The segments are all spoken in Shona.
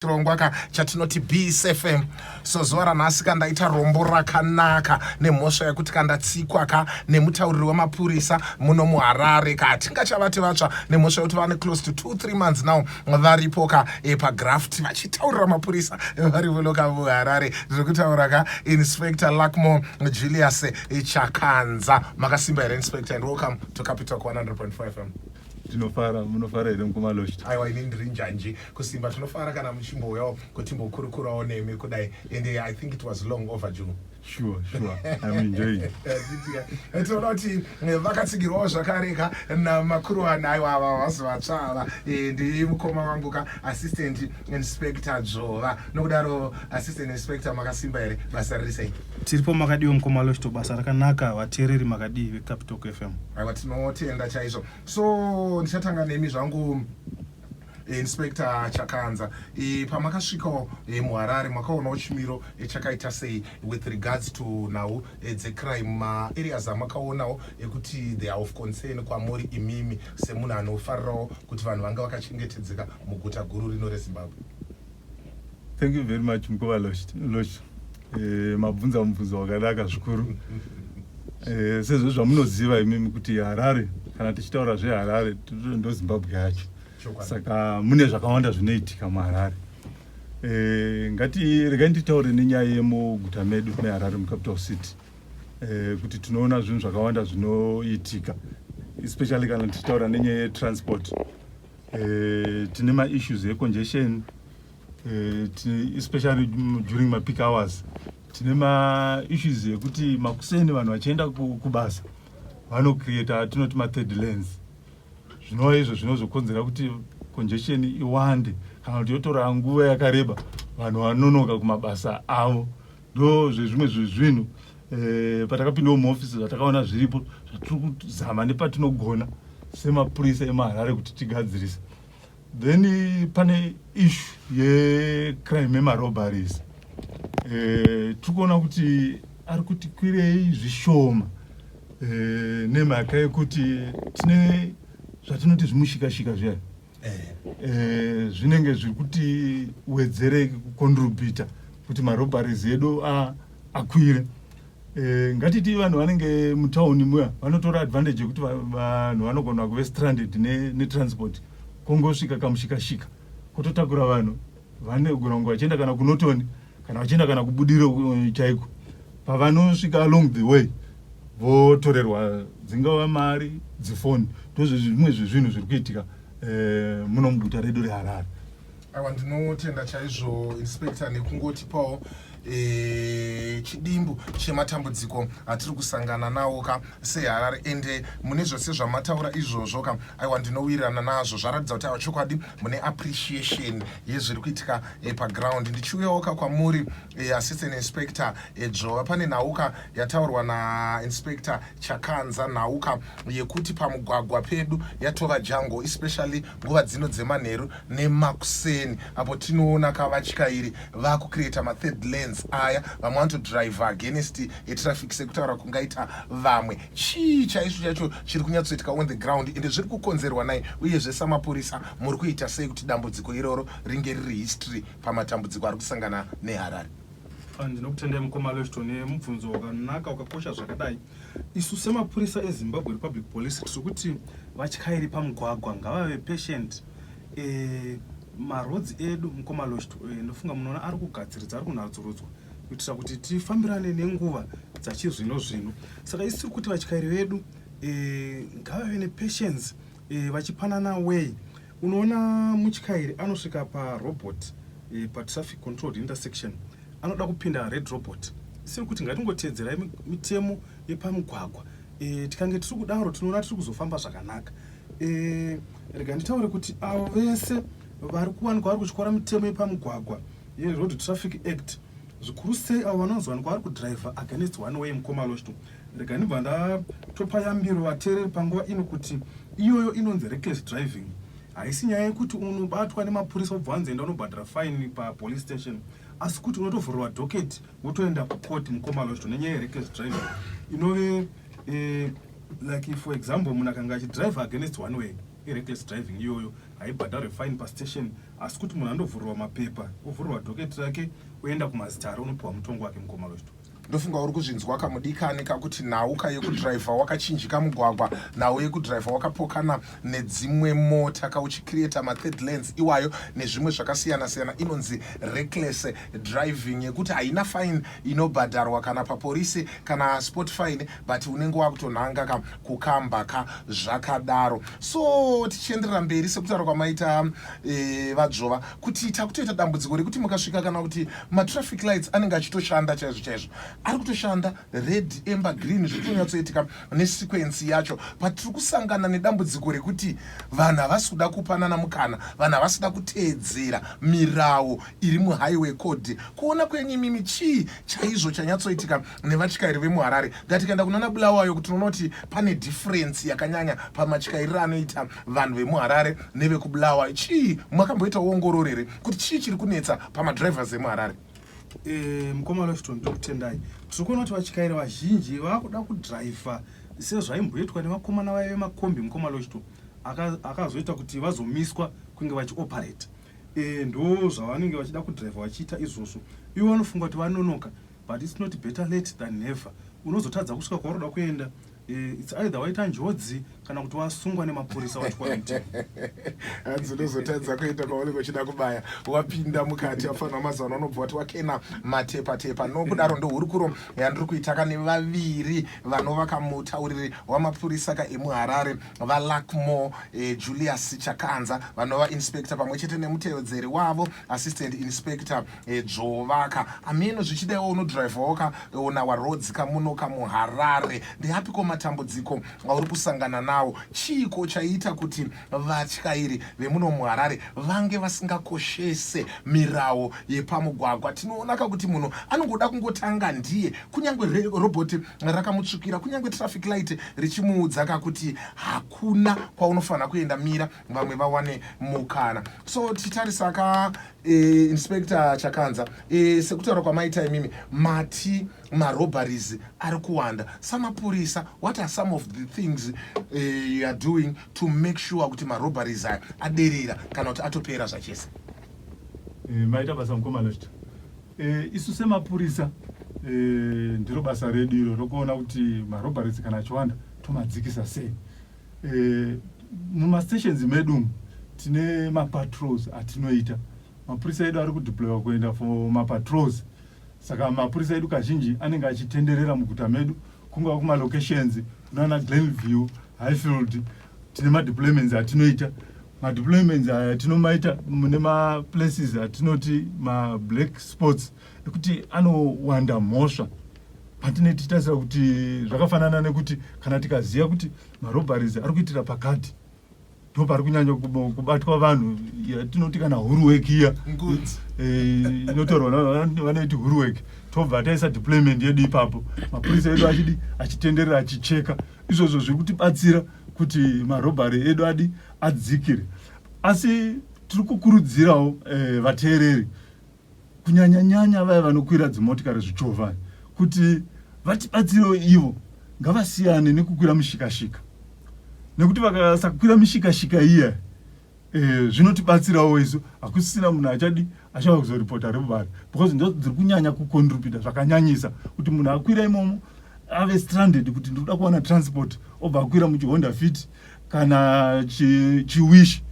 chirongwa ka chatinoti bsfm so zuva ranhasi ka ndaita rombo rakanaka nemhosva yekuti ka ndatsikwa ka nemutauriri wemapurisa muno muharare ka tingachavati vatsva nemhosva yekuti vane close to two three months now varipo ka e, pagraft vachitaurira mapurisa vari vuno ka muharare ndiri kutaura ka inspector luckmore julius chakanza makasimba here inspector and welcome to capital 100.5 fm tinofara munofara here mukoma lost aiwa ini ndiri njanji kusimba tinofara kana muchimbouyawo kutimbokurukurawo nemi kudai and eh, i think it was long overdue sure sure i'm enjoying eh, tinoda kuti eh, vakatsigirwawo zvakareka namakuruwana aiwa ava vazi vatsvava ndi mukoma wangu ka assistant inspector dzvova nokudaro assistant inspector makasimba here basa riri sei Tiripo makadiwa mukoma Loshto basa rakanaka vateereri makadii veCapital FM. Aiwa tinotenda chaizvo. So ndichatanga nemi zvangu Inspector Chakanza e, pamakasvika e, muHarare makaonawo chimiro e, chakaita sei with regards to nhau e, dzecrime maareas amakaonawo ekuti they are of concern kwamuri imimi semunhu anofarirawo kuti vanhu vanga vakachengetedzeka muguta guru rino reZimbabwe? Thank you very much mkova Losh. Eh, mabvunza mubvunzo wakanaka zvikuru. Eh, sezvo zvamunoziva imimi kuti Harare kana tichitaura zveHarare ndo Zimbabwe yacho. Saka mune zvakawanda zvinoitika muHarare. Eh, ngati regai nditaure nenyaya yemuguta medu meHarare mucapital city. Eh, kuti tinoona zvinhu zvakawanda zvinoitika especially kana tichitaura nenyaya yetransport. eh, tine maissues econgestion eh, especially during mapeak hours tine maissues ekuti makuseni vanhu vachienda kubasa vanocreata tinoti mathird lens zvinova izvo zvinozokonzera kuti congestion iwande kana kuti yotora nguva yakareba vanhu vanonoka kumabasa avo Ndo zvezvimwe zvezvinhu eh, patakapindawo muofisi zvatakaona zviripo zvatiri kuzama nepatinogona semapurisa emaharare kuti tigadzirise then eh, pane ishu yecrime emarobaries eh, tiri kuona kuti ari kuti kwirei zvishoma eh, nemhaka yekuti tine zvatinoti zvimushikashika zviya eh, zvinenge zviri kuti wedzere kucontributa kuti marobaries edu akwire eh, ngatiti vanhu vanenge mutauni muya vanotora advantage yekuti vanhu vanogona kuve stranded netransport ne kongosvika kamushikashika kototakura vanhu vanogona kunge vachienda kana kunotoni kana vachienda kana kubudiro uh, chaiko pavanosvika along the way votorerwa dzingava mari dzifoni ndozvezvimwe zvezvinhu zviri kuitika eh, muno muguta redu reharare awa ndinotenda chaizvo inspector nekungotipawo Eh, chidimbu chematambudziko atiri kusangana nawo ka seharare ende eh, mune zvose zvamataura izvozvo ka aiwa ndinowirirana nazvo zvaratidza kuti aiwa chokwadi mune appreciation yezviri kuitika eh, paground ndichiuyawo ka kwamuri assistant inspector dzvova pane nhauka yataurwa nainspector chakanza nhauka yekuti pamugwagwa pedu yatova jango especially nguva dzino dzemanheru nemakuseni apo tinoona ka vatyairi vakucreata mathird lands aya vamwe vanotodriver against etraffic sekutaura kungaita vamwe chii chaizvo chacho chiri kunyatsoitika on the ground ende zviri kukonzerwa nai uyezve samapurisa muri kuita sei kuti dambudziko iroro ringe riri history pamatambudziko ari kusangana neharare ndinokutendai mukoma leshto nemubvunzo wakanaka wakakosha zvakadai Isu semapurisa eZimbabwe Republic Police tiri kuti vatyairi pamugwagwa ngavave patient eh, maroads edu mukoma lost eh, ndofunga munoona ari kugadziridza ari kunatsurudzwa kuitira kuti tifambirane nenguva dzachizvino zvino saka isi tiri kuti vatyairi vedu eh, ngavave nepatience eh, vachipanana way Unoona mutyairi anosvika parobot eh, patraffic controlled intersection anoda kupinda red robot isiri kuti ngatingoteedzerai mitemo yepamugwagwa e, tikange tiri kudaro tinoona tiri kuzofamba zvakanaka e, rega nditaure kuti avo vese vari kuwanikwa vari kutyora mitemo yepamugwagwa yeroad traffic act zvikuru sei avo vanozowanikwa vari kudriver against one way mukoma losto Rega ndibva ndatopa yambiro vateereri panguva ino kuti iyoyo inonzi reckless driving. Haisi nyaya yekuti unobatwa nemapurisa wobva wanzi enda unobhadhara fine papolice station asi kuti unotovhurwa docket wotoenda kucourt mukoma lozvito nenyaya yereckless driving inove eh, like for example munhu akanga achidrive against one way ireckless driving iyoyo haibhadharwe fine pastation asi kuti munhu andovhurwa mapepa ovhurwa docket rake oenda kumazitare unopiwa mutongo wake mukoma lozvito ndofunga uri kuzvinzwa kamudikani kakuti nhau ka yekudhiraivha wakachinjika mugwagwa nhau yekudhiraivha wakapokana nedzimwe mota ka uchicreata mathird lands iwayo nezvimwe zvakasiyana siyana inonzi reckless driving yekuti haina fine inobhadharwa kana paporisi kana sport fine but unenge wakutonhanga ka kukamba ka zvakadaro so tichienderera mberi sekutaura kwamaita e, vadzvova kuti takutoita dambudziko rekuti mukasvika kana kuti matraffic lights anenge achitoshanda chaizvo chaizvo ari kutoshanda red ember green zviri kunyatsoitika nesequensi yacho but tiri kusangana nedambudziko rekuti vanhu havasi kuda kupanana mukana vanhu havasi kuda kuteedzera mirawo iri muhighway code kuona kwenyu imimi chii chaizvo chanyatsoitika nevatyairi vemuharare ngatikaenda kunoona bulawayo kuti tinoona kuti pane difference yakanyanya pamatyairiro anoita Vanhu vemuHarare nevekuBulawayo chii makamboita ongororo here kuti chii chiri kunetsa pamadrivers emuHarare? Eh, mukoma Lofton ndokutendai. Tiri kuona kuti vatyairi vazhinji vakuda kudhiraivha sezvaimboitwa nevakomana vaive makombi mukoma Lofton akazoita kuti vazomiswa kunge vachioperate. Eh, ndo zvavanenge vachida kudhiraivha vachiita izvozvo. Ivo vanofunga kuti vanonoka but it's not better late than never. Unozotadza kusvika kwaunoda kuenda Eh, it's either waita njodzi kana kuti wasungwa nemapurisa wati quarantine hanzi unozotadza kuita kwaunenge uchida kubaya wapinda mukati afanira mazuva anobva wati wakena matepa tepa nokudaro ndohurukuro yandiri kuita ka nevaviri vanovaka mutauriri wamapurisa ka emuharare valakmo eh, julius chakanza vanova inspector pamwe chete nemutevedzeri wavo assistant inspector dzvovaka ameno zvichidaiwo unodrivhawo ka on our roads kamuno kamuharare ndeapiko matambudziko auri kusangana nawo chiiko chaiita kuti vatyairi vemuno muharare vange vasingakoshese mirawo yepamugwagwa tinoonaka kuti munhu anongoda kungotanga ndiye kunyange robhoti rakamutsvukira kunyange traffic light richimuudza kakuti hakuna kwaunofanira kuenda mira vamwe vawane mukana so tichitarisa ka e, inspector chakanza e, sekutaura kwamaita imimi mati marobaries ari kuwanda samapurisa what are some of the things e, you are doing to make sure kuti marobaries aya aderera kana kuti atopera zvachese e, maita basa mukomanochita e, isu semapurisa e, ndiro basa redu iro rokuona kuti marobaries kana achiwanda tomadzikisa sei Eh, mumastations medu umu tine mapatrols atinoita mapurisa edu ari kudeploywa kuenda for mapatrols saka mapurisa edu kazhinji anenge achitenderera muguta medu kungava kumalocations kunana glenview highfield tine madeployments atinoita madeployments aya tinomaita mune maplaces atinoti mablack sports nekuti anowanda mhosva patine tichitarisira kuti zvakafanana nekuti kana tikaziva kuti marobharies ari kuitira pakati ndo pari kunyanya kubatwa vanhu yatinoti kana huruweki iya eh, inotorwa vanoiti huruweki tobva taisa deployment yedu ipapo mapurisa edu achidi achitenderera achicheka izvozvo zviri kutibatsira kuti marobhari edu adi adzikire asi tiri kukurudzirawo eh, vateereri kunyanya nyanya vaya vanokwira dzimotikari zvichovha kuti vatibatsirewo ivo ngavasiyane nekukwira mushikashika nekuti vakasakwira mishikashika iya eh, zvinotibatsirawo e, isu hakusisina munhu achadi achava kuzoripota rebari because ndo dziri kunyanya kucontribita zvakanyanyisa kuti munhu akwira imomo ave stranded kuti ndikuda kuwana transport obva akwira muchihonda fiti kana chiwishi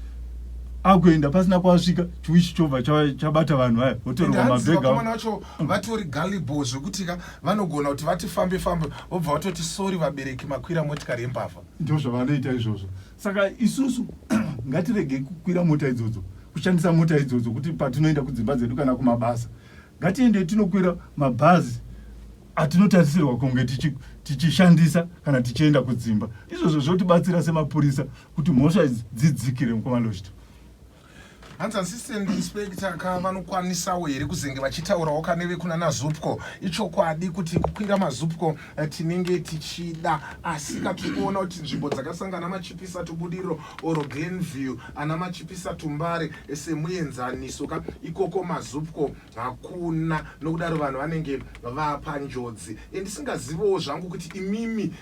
akuenda pasina kwasvika chiwishi chobva chabata vanhu vaya votorwa mabhegakomana vacho vatori galibo zvekuti ka vanogona kuti vati fambe fambe vobva vatoti sori vabereki makwira motikari yembavha ndo zvavanoita izvozvo saka isusu ngatirege kukwira mota idzodzo kushandisa mota idzodzo kuti patinoenda kudzimba dzedu kana kumabasa Ngatiendei tinokwira mabhazi atinotarisirwa kunge tichishandisa kana tichienda kudzimba. Izvozvo zvotibatsira semapurisa kuti mhosva idzi dzidzikire mukoma Loshito. Hanzi assistant inspector ka vanokwanisawo here kuzenge vachitaurawo ka nevekuna naZupco. Ichokwadi kuti kukwira maZupco eh, tinenge tichida asi ka tiri kuona kuti nzvimbo dzakasangana machipisa tubudiriro or glenview ana machipisa tumbare eh, semuenzaniso ka ikoko mazupko hakuna nokudaro vanhu vanenge vapanjodzi eh, ndisingazivewo zvangu kuti imimi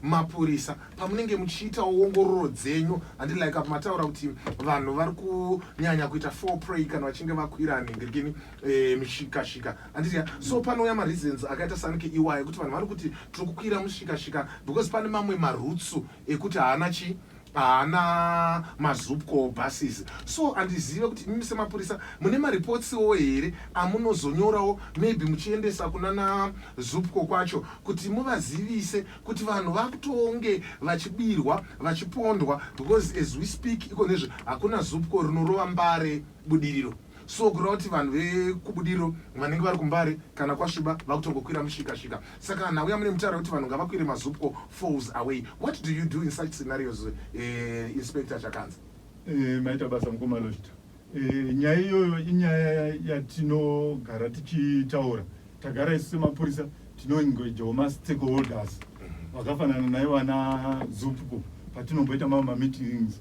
semapurisa pamunenge muchiitawo ongororo dzenyu handilike apo mataura kuti vanhu vari kunyanya kuita four pray kana vachinge vakwira nhindirikini mishikashika handiti so panouya mareasons akaita sanike iwayo ekuti vanhu vari kuti tiri kukwira mushikashika because pane mamwe marutsu ekuti haana chii haana mazupco buses so handizive kuti imimi semapurisa mune maripotsiwo here amunozonyorawo maybe muchiendesa kunana zupco kwacho kuti muvazivise kuti vanhu vakutonge vachibirwa vachipondwa because as we speak iko nezve hakuna zupco rinorova mbare budiriro so kureva kuti vanhu vekubudiriro vanenge vari kumbare kana kwasviba vakutongokwira mushikashika saka nhau yamune mutaura kuti vanhu ngavakwire mazupco falls away what do you do in such scenarios uh, inspector chakanzi eh, maita basa mukomaloshita eh, nyaya iyoyo inyaya yatinogara tichitaura tagara isu semapurisa tinoengejawo mastakeholders mhm. vakafanana naye vana zupco patinomboita mamamittings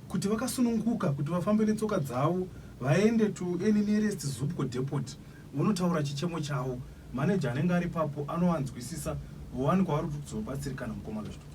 kuti vakasununguka kuti vafambe netsoka dzavo vaende to any nearest Zupco depot vonotaura chichemo chavo. Manager anenge ari ipapo anovanzwisisa vowanikwa vari kuti kuzobatsirikana mukoma Lushto.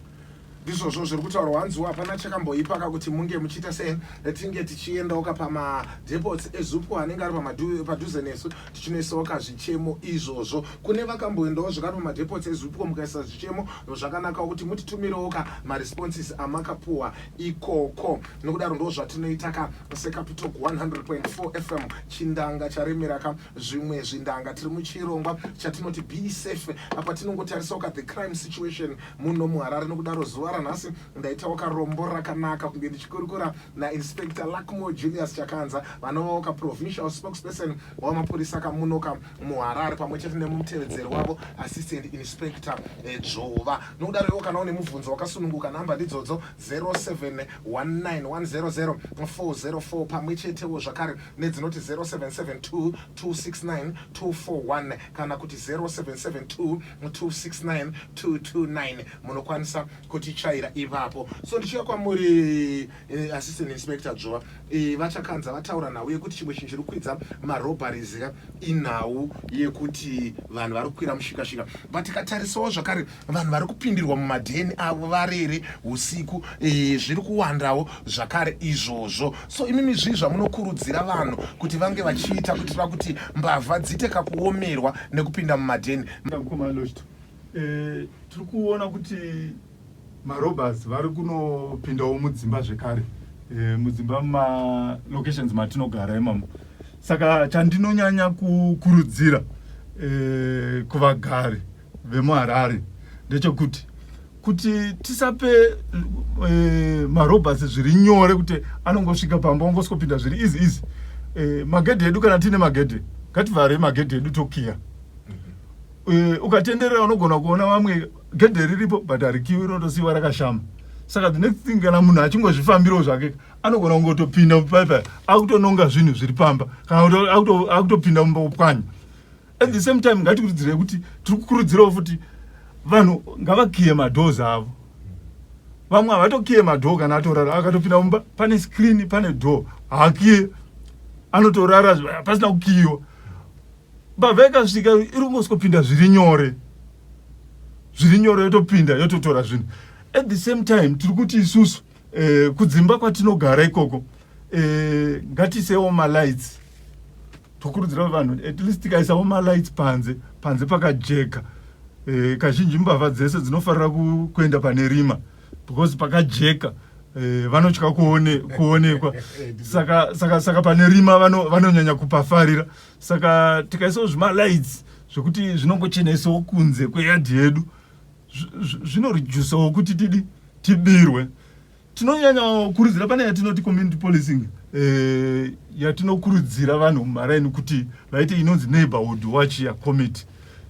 ndizvozvo zviri kutaurwa hanziwo hapana chakamboipaka kuti munge muchiita sei tinge tichiendawka pamadepots ezupco anenge ari pamadu- padhuze nesu tichinoisawoka zvichemo izvozvo kune vakamboendawo zvekare pamadepots ezupco mukaisa zvichemo zvakanakawo kuti mutitumirewoka maresponses amakapuwa ikoko nokudaro ndo zvatinoita ka secapital 100.4 fm chindanga charemera ka zvimwe zvindanga tiri muchirongwa chatinoti be safe apa tinongotarisa uka the crime situation muno muharare nokudaro zuva ranhasi ndaitawo karombo rakanaka kunge ndichikurukura nainspector luckmore julius chakanza vanovawo kaprovincial spokesperson wamapurisa kamunoka muharare pamwe chete nemutevedzeri wavo assistant inspector eh, dzvova nokudaro iwo kana une mubvunzo wakasununguka nhamba ndidzodzo 0719100404 pamwe chetewo zvakare nedzinoti 0772269241 kana kuti 0772269229 munokwanisa kutichaira ipapo so ndichiuya kwamuri eh, assistant inspector dzvova eh, vachakanza vataura nhau yekuti chimwe chinhu chiri kukwidza marobaries ka inhau yekuti vanhu vari kukwira mushikashika but tikatarisawo zvakare vanhu vari kupindirwa mumadheni avo varere usiku eh, zviri kuwandawo zvakare izvozvo so imimi zvii zvamunokurudzira vanhu kuti vange vachiita kuitira kuti mbavha dzite kakuomerwa nekupinda mumadheni eh, tiri kuona kuti Marobbers vari kunopindawo mudzimba zvekare eh, mudzimba mumalocations matinogara imamo saka chandinonyanya kukurudzira eh, kuvagari vemuharare ndechekuti kuti tisape eh, marobbers zviri nyore kuti anongosvika pamba ongosvkopinda zviri izi izi eh, magedhe edu kana tiine magedhe ngativhare magedhe edu tokiya mhm. eh, ukatenderera unogona kuona vamwe gedhe riripo but harikiwi rinotosiiwa rakashama saka the next thing kana munhu achingozvifambirawo zvake anogona kungotopinda mupaipai akutononga zvinhu zviri pamba kana akutopinda mumba kupwanya at the same time ngatikurudzirei kuti tiri kukurudzirawo futi vanhu ngavakiye madoors avo vamwe havatokiye madoo kana atorara akatopinda mumba pane screen pane door haakiye anotorara pasina kukiyiwa bavha ikasvika iri kungosvikopinda zviri nyore zviri nyore yotopinda yototora zvinhu at the same time tiri kuti isusu eh, kudzimba kwatinogara ikoko eh, ngatiisewo malights tokurudzira vanhu at least tikaisawo malights panze panze pakajeka eh, kazhinji mbavha dzese dzinofarira kuenda pane rima because pakajeka eh, vanotya kuone, kuonekwa saka, saka, saka pane rima vanonyanya vano kupafarira saka tikaisawo zvimalights zvekuti zvinongochenaisawo kunze kweyadhi yedu zvinoredusawo kuti tidi tibirwe tinonyanya kurudzira pane yatinoti community policing eh, yatinokurudzira vanhu mumaraini kuti vaite inonzi neighborhood watch ya committee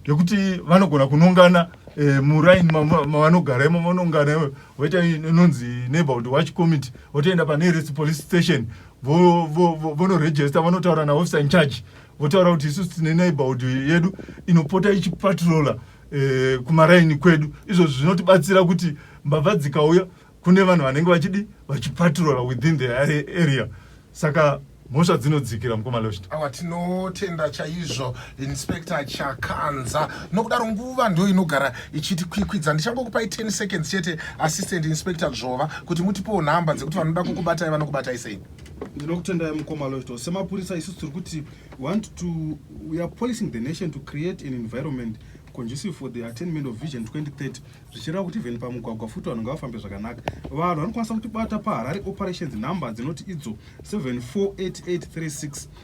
yekuti vanogona kunongana eh, muraini mavanogara imo vanongana voita inonzi neighborhood watch committee votoenda pane rest police station vonoregista vo, vo, vanotaura naofficer in charge votaura kuti isusu tine neighborhood yedu inopota ichipatrola eh, kumaraini kwedu izvozvo zvinotibatsira kuti mbavha dzikauya kune vanhu vanenge vachidi vachipatrola within the area saka mhosva dzinodzikira mukoma lost awa tinotenda chaizvo Inspector Chakanza, nokudaro nguva ndo inogara ichitikwikwidza. Ndichangokupai 10 seconds chete Assistant Inspector Dzvova kuti mutipewo nhamba dzekuti vanoda kukubatai vanokubatai sei. Ndinokutendai mukoma Loito. Semapurisa isu tiri kuti want to we are policing the nation to create an environment conducive for the attainment of vision 2030 zvichireva kuti even pamugwagwa futi vanhu ngavafambe zvakanaka vanhu vanokwanisa kutibata paharare operations number dzinoti idzo 748836